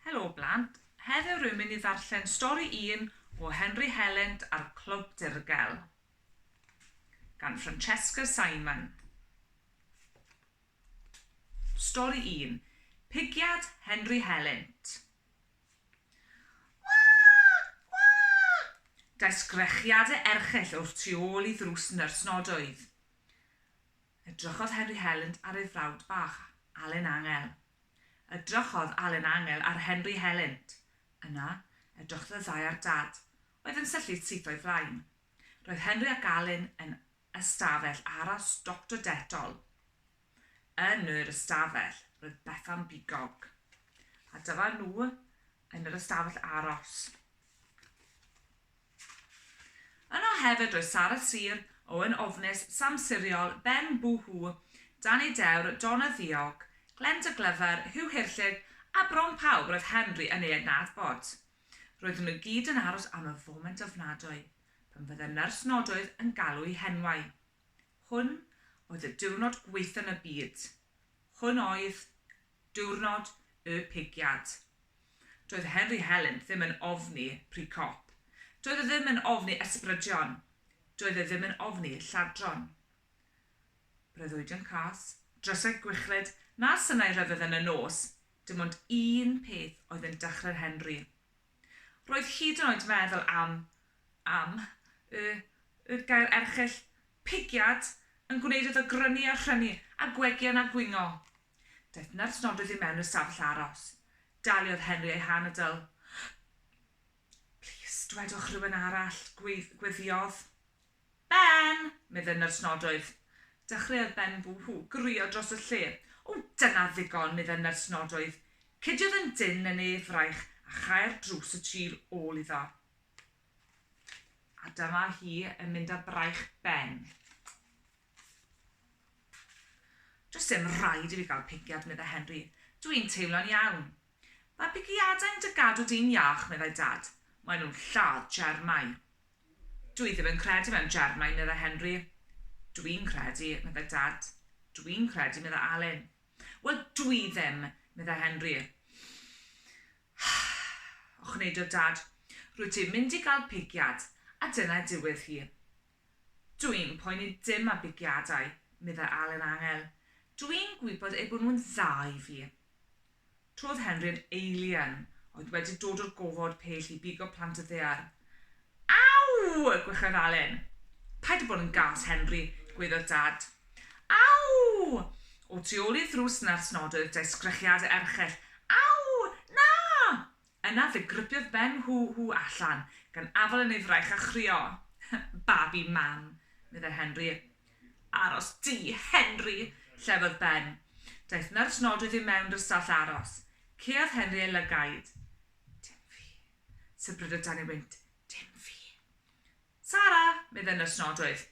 Helo blant, heddiw rwy'n mynd i ddarllen stori un o Henry Helent a'r Clwb Dirgel gan Francesca Simon. Stori un, Pigiad Henry Helent. Daeth sgrechiadau erchyll o'r tu ôl i ddrws nyrs nodoedd. Edrychodd Henry Helynt ar ei frawd bach, Alun Angel. Edrychodd Alun Angel ar Henry Helynt. Yna, edrychodd y ddau ar Dad, oedd yn syllu syth o'i flaen. Roedd Henry ac Alun yn ystafell aros Doctor Dettol. Yn yr ystafell, roedd Bethan Bigog. A dyma nhw yn yr ystafell aros. Yno hefyd roedd Sara Sir, Owen Ofnus, Sam Siriol, Ben Boo Hoo, Dani Dewr, Donna Ddiog, Glen de Glyfr, Huw Hirllid a bron pawb roedd Henry yn ei adnabod. Roedden nhw gyd yn aros am y foment ofnadwy pan fydde nyrs nodoedd yn galw'u henwau. Hwn oedd y diwrnod gwaetha yn y byd. Hwn oedd Diwrnod y pigiad. Doedd Henry Helen ddim yn ofni pry cop. Doedd e ddim yn ofni ysbrydion. Doedd e ddim yn ofni lladron. Breuddwydion cas, drysau gwichlyd, na synau rhyfedd yn y nos, dim ond un peth oedd yn dychryn Henry. Roedd hyd yn oed meddwl am, am, y, y gair erchyll, pigiad, yn gwneud iddo grynu a rhynu, a gwegian a gwingo. Daeth nyrs nodydd i mewn i'r stafell aros. Daliodd Henry ei han a dyl. Plîs, dwedwch rhywun arall, gweddïodd. Ben! medde nyrs nodoedd. Dechreuodd Ben ww-hw, gwrio dros y lle. O, dyna ddigon, medde nyrs nodoedd. Cediodd yn dynn yn ei fraich a chau'r drws y tu ôl iddo. A dyma hi yn mynd â braich Ben. Does dim rhaid i fi gael pigiad, meddai Henry. Dw i'n teimlo'n iawn. Mae pigiadau'n dy gadw di'n iach, meddai Dad. Maen nhw'n lladd germau. Dw i ddim yn credu mewn germau, meddai Henry. Dw i'n credu, meddai Dad. Dw i'n credu, meddai Alun. Wel, dw i ddim, meddai Henry. Ochneidodd Dad. Rwyt ti'n mynd i gael pigiad, a dyna diwedd hi. Dw i'n poeni dim am bigiadau, meddai Alun Angel. Dw i'n gwybod eu bod nhw'n dda i fi. Trodd Henri'n eilian oedd wedi dod o'r gofod pell i bigo plant y ddaear. Aw! gwechodd Alun. Paid â bod yn gas, Henri, gwaeddodd Dad. Aw! O tu ôl i'r ddrws na'r snodoedd daeth sgrechiadau erchyll. Aw! Na! Yna fe gripiodd Ben Huw Huw allan gan afal yn ei fraich a chrio. Babi mam! meddai Henry. Aros di, Henry! llefodd Ben. Daeth nyrs nodwydd i mewn drysall aros. Caeodd Henry ei lygaid. Dim fi! sybrydodd dan ei wynt. Dim fi! Sara! meddai nyrs nodwydd.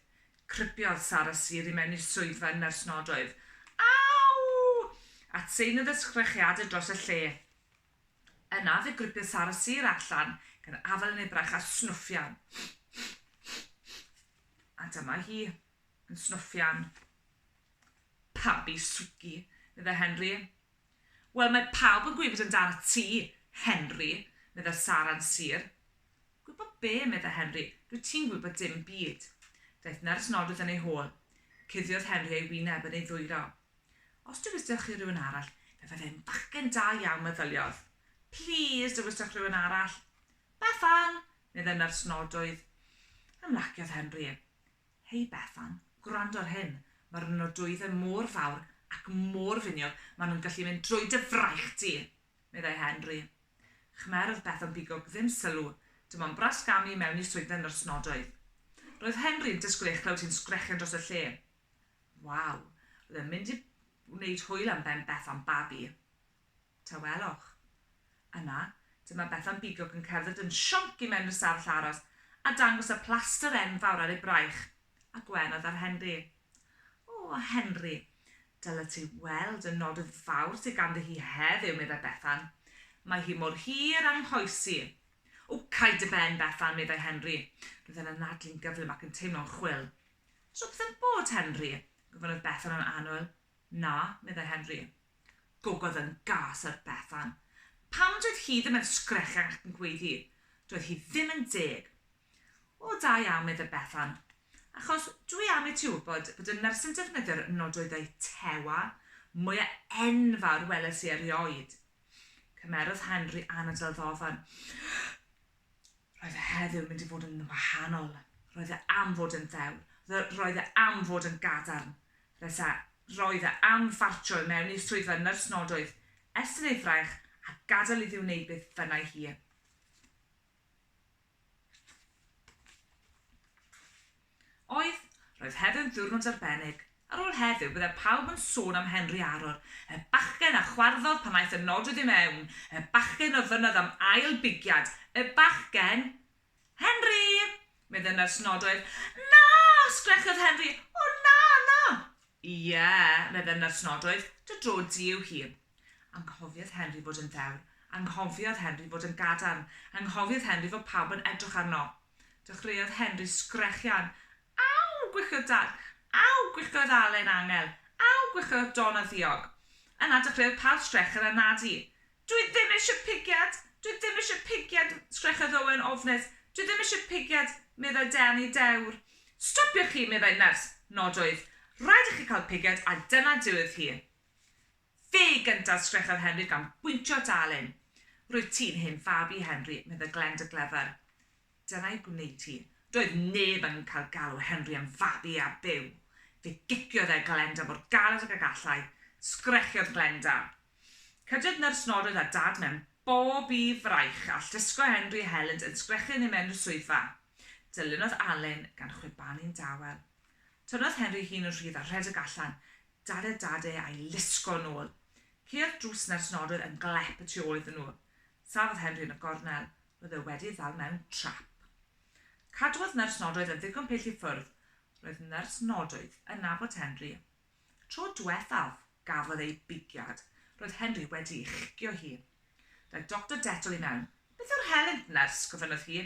Cripiodd Sara Syr i mewn i'r swyddfa nyrs nodwydd. Aw! Atseinodd ysgrechiadau dros y lle. Yna fe gripiodd Sara Sir allan gan afael yn ebrach a snwffian. A dyma hi yn snwffian pabi swgi, medda Henry. Wel, mae pawb yn gwybod amdana ti, Henry, medda Sara'n Sir. Gwybod be, medda Henry, dwi ti'n gwybod dim byd. Daeth nyrs nodydd yn ei hôl. Cuddiodd Henry ei wyneb yn ei ddwyro. Os dywysdewch chi rhywun arall, fe fyddai'n bachgen da iawn, meddyliodd. Plîs, dywysdewch rhywun arall. Bethan! meddai nyrs nodoedd. Ymlaciodd Henry. Hei, Bethan, gwrando ar hyn. Mae'r nodoeddau mor fawr ac mor finiog, maen nhw'n gallu mynd drwy dy fraich di! meddai Henry. Khmer oedd Bethan bigog ddim sylw, dim ond bras gamu i mewn i swyddfa nyrs nodoedd. Roedd Henry yn disgwyl ei chlywed hi'n sgrechian dros y lle. Waw! Oedd e'n mynd i wneud hwyl am ben Bethan babi. Tawelwch. Yna, dyma Bethan bigog yn cerdded yn sionc i mewn i'r stafell aros a dangos y plaster enfawr ar ei braich a gwenodd ar Henry. O, Henry, dylet ti weld y nod fawr sydd ganddi hi heddiw, meddai Bethan. Mae hi mor hir a'm nghoes i. O, cau dy ben, Bethan, meddai Henry. Roedd e'n anadlu'n gyflym ac yn teimlo'n chwil. Twp ddim bod, Henry? gofynnodd Bethan yn annwyl. Na, meddai Henry. Gogodd yn gas ar Bethan. Pam doedd hi ddim yn sgrechian ac yn gweiddi? Doedd hi ddim yn deg. O, da iawn, meddai Bethan. Achos dw i am i ti wybod bod y nyrsyn defnyddio'r nodoedau tewa mwya enfawr weles i erioed. Cymerodd Henry anadl ddofn. Roedd e heddiw'n mynd i fod yn wahanol. Roedd e am fod yn ddewr. Roedd e am fod yn gadarn. Resa, roedd e am ffartio i mewn i'r swyddfa nyrsnodoedd, estyn ei fraich a gadael iddi wneud beth bynnai hi. Oedd, roedd heddiw'n ddiwrnod arbennig. Ar ôl heddiw, byddai pawb yn sôn am Henry Aror, y bachgen a chwarddodd pan aeth y nodwydd i mewn, y bachgen ofynnodd am ail bigiad, y bachgen! Henry! medd y nyrs nodwydd. Na! sgrechodd Henry. O na, na! Ie, medd y nyrs nodwydd, dy dro di yw hi. Anghofiodd Henry fod yn ddewr. Anghofiodd Henry fod yn gadarn. Anghofiodd Henry fod pawb yn edrych arno. Dechreuodd Henry sgrechian. Aw! gwichiodd Dad. Aw! gwichiodd Allen angel. Aw! gwichiodd Don a Ddiog. Yna dechreuodd pawb sgrechen a nadu. Dwi ddim eisiau pigiad! Dwi ddim eisiau pigiad! sgrechodd Owen ofnus. Dwi ddim eisiau pigiad! meddai Danny dewr. Stopiwch chi! meddai Nyrs Nod Oedd rhaid i chi cael pigiad a dyna diwedd hi. Fe gynta sgrechodd Henry gan bwyntio at Alun. Rwyt ti'n hen fab i, Henry, medda Glen dy glyfr. Dyna'i gwneud hi. Doedd neb yn cael galw Henry yn fab i ar byw. Fe giciodd e Glenda mor galed ag y gallai. Sgrechiodd Glenda. Cydiodd Nyrs Norwydd a Dad mewn bob i fraich all disgo Henry helynt yn sgrechian i mewn i'r swyddfa. Dylunodd Alun gan chwibanu'n dawel. Tynnodd Henry ei hun yn rhydd a rhedeg allan. Dada dada a'i lusgo yn ôl. Ceuodd drws na'r snorwyr yn glep y tu ôl iddyn nhw. Safodd Henry yn y gornel. Roedd e wedi ddal mewn trap. Cadwodd nyrs nodoedd yn ddigon pell i ffwrdd. Roedd nyrs nodoedd yn nabod Henry. Tro dwethaf, gafodd ei bigiad. Roedd Henry wedi ei chicio hi. Daeth Doctor Detol i mewn. Beth yw'r helynt, nyrs? gofynnodd hi.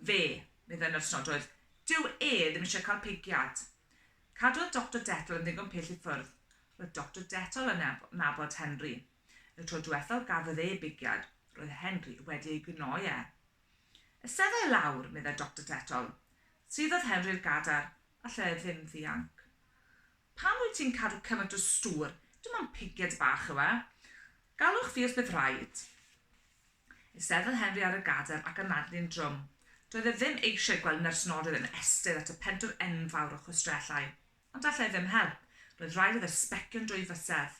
Fe, meddai nyrs Nodoedd, dyw e ddim eisiau cael pigiad. Cadwodd Doctor Dettle yn ddigon pell i ffwrdd. Roedd Doctor Dettle yn nabod Henry. Y tro diwethaf gafodd e bigiad, roedd Henry wedi ei gnoi e. Esedda i lawr, meddai Doctor Dettle. Suddodd Henry'r gadar, a lle e ddim ddianc. Pam wyt ti'n cadw cymaint o stŵr? Dim ond pigiad bach yw e. Galwch fi os bydd rhaid. Eisteddai Henry ar y gadair ac anadlu'n drwm. Doedd e ddim eisiau gweld nersynorydd yn estyn at y pentwr enfawr o chwistrellau. Ond allai ddim help. Roedd rhaid iddo sbecio'n dwy fysedd.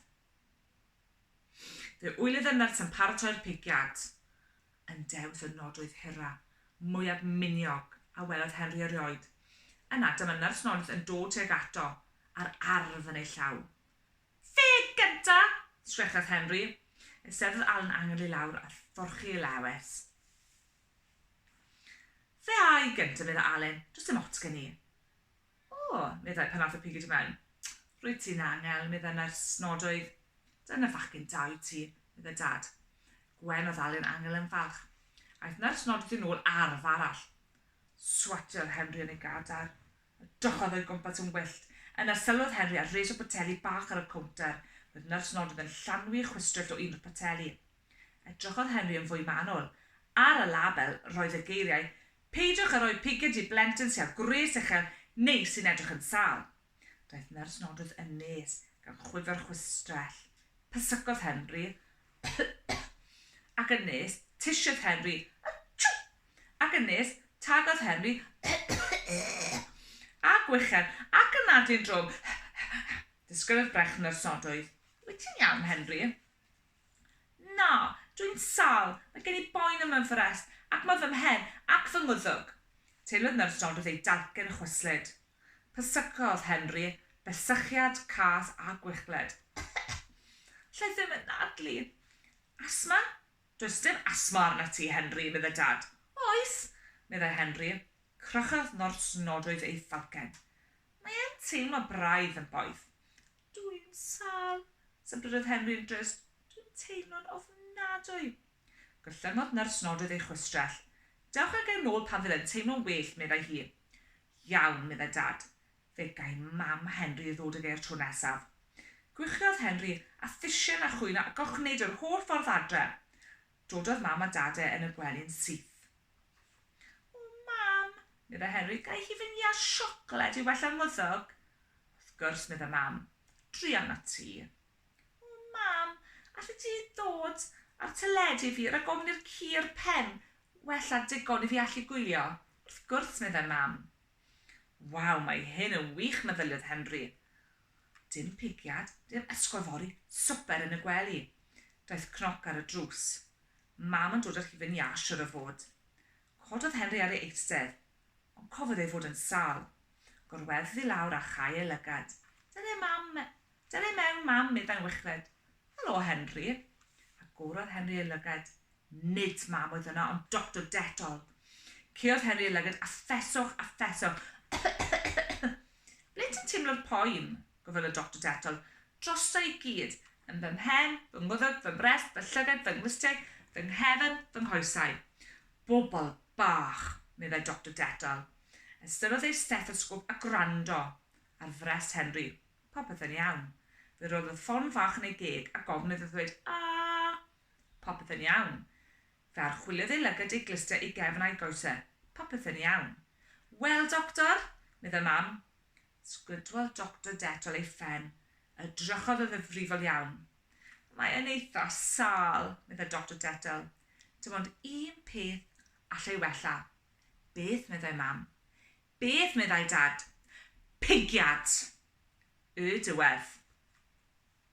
Fe wylodd y nyrs yn paratoi'r pigiad. Yn dewis y nod oedd hira, mwyaf miniog, a welodd Henry erioed. Yna, dyma nersynorydd yn dod tuag ato, a'r arf yn ei llaw. Fe gynta! sgrechodd Henry. Eisteddodd Alan angel i lawr a thorchi ei lewys. Fe a i gynta, meddai Alan. Does dim ots gen i. O! meddai pan ath y pigyd i mewn. Rwyt ti'n angel, meddai nyrs Nodoedd. Dyna fachgen da wyt ti, meddai Dad. Gwen oedd Alan angel yn falch. Aeth nyrs Nodoedd yn ôl ar fa arall. Swatiodd Henry yn ei gadar. Edrychodd o'i gwmpas yn wyllt. Yna sylwodd Henry ar res o boteli bach ar y cownter. Roedd Nyrs Nodyn yn llanwi chwistrellt o un o'r poteli. Edrychodd Henry yn fwy manwl. Ar y label, roedd y geiriau, Peidiwch â rhoi piged i blentyn sy â gwres uchel neu sy'n edrych yn sâl. Daeth Nyrs Nodwth yn nes, gan chwifio'r chwistrell. Pysgodd Henry ac yn nes, tisiodd Henry. Atsiw! Ac yn nes, tagodd Henry a gwichedd ac yn nadu yn drwm. Disgynnodd brech nyrsodwydd. Wyt ti'n iawn, Henry? Na, dw i'n sâl, mae gen i boen ym mhenfforest, ac mae fy mhen ac fy ngwddwg. Teimlodd nyrsodwydd ei dalcen chwyslyd. Pyssycodd Henry, besychiad cas a gwichled. Alla i ddim anadlu. Asthma? Does dim asthma arnat ti, Henry, meddai Dad. Oes, meddai Henry. Crychodd nyrs nodoedd ei pharcen. Mae e'n teimlo braidd yn boeth. Dw i'n sâl, sybrydodd Henry yn drist. Dw i'n teimlo'n ofnadwy. Gorllyngodd nyrs nodoedd ei chwistrell. Dewch ag e'n ôl pan fydd e'n teimlo'n well, meddai hi. Iawn, meddai Dad. Fe gai mam Henry ddod ag e 'r tro nesaf. Gwichiodd Henry, a thisen a chwyno a gorchneid yr holl ffordd adre. Dododd mam a dad e yn y gwely'n syth. O, mam, medda Henry, gai hi fy ngiât siocled i wella 'r mwddwg? Wrth gwrs, medda mam. Druan at ti. O, mam, allet ti ddod a 'r teledu i fi rag ofn i'r ci 'r pen wella digon i fi allu gwylio? Wrth gwrs, medda mam. Waw, mae hyn yn wych meddyliodd Henry. Dim pigiad, dim esgor fory, swper yn y gwely. Daeth cnoc ar y drws. Mam yn dod â'r hufen iâ siwr o fod. Cododd Henry ar ei eistedd, ond cofodd ei fod yn sâl. Gorwedd ddi lawr a chau ei lygad. Dyle mam me-, dyle mewn mam meddai'n wichred. Helo, Henry. Agorodd Henry ei lygad. Nid mam oedd yno, ond Doctor Dettol. Caeodd Henry ei lygad a ffeswch a ffeswch. Ble ti'n teimlo'r poen? gofynnodd y Doctor Dettol. Drosto i gyd. Yn fy mhen, fy ngwddf, fy mrest, fy llygad, fy nglustiau, fy nghefn, fy nghoesau. Bobl bach, meddai Doctor Dettol. Ystyrrodd ei stethosgôp a gwrando ar frest Henry. Popeth yn iawn. Fe roddodd ffon fach yn ei geg a gofn iddo ddweud 'A! Popeth yn iawn. Fe archwiliodd ei lygad ei glustia i gefn a'i goese. Popeth yn iawn. Wel, Doctor? meddai Mam. Sgwydwodd Doctor Dettol ei phen. Edrychodd yn ddifrifol iawn. Mae e'n eitha' sâl, meddai Doctor Dettol. Dim ond un peth allai wella. Beth? meddai Mam. Beth? meddai Dad. Pigiad! Y diwedd.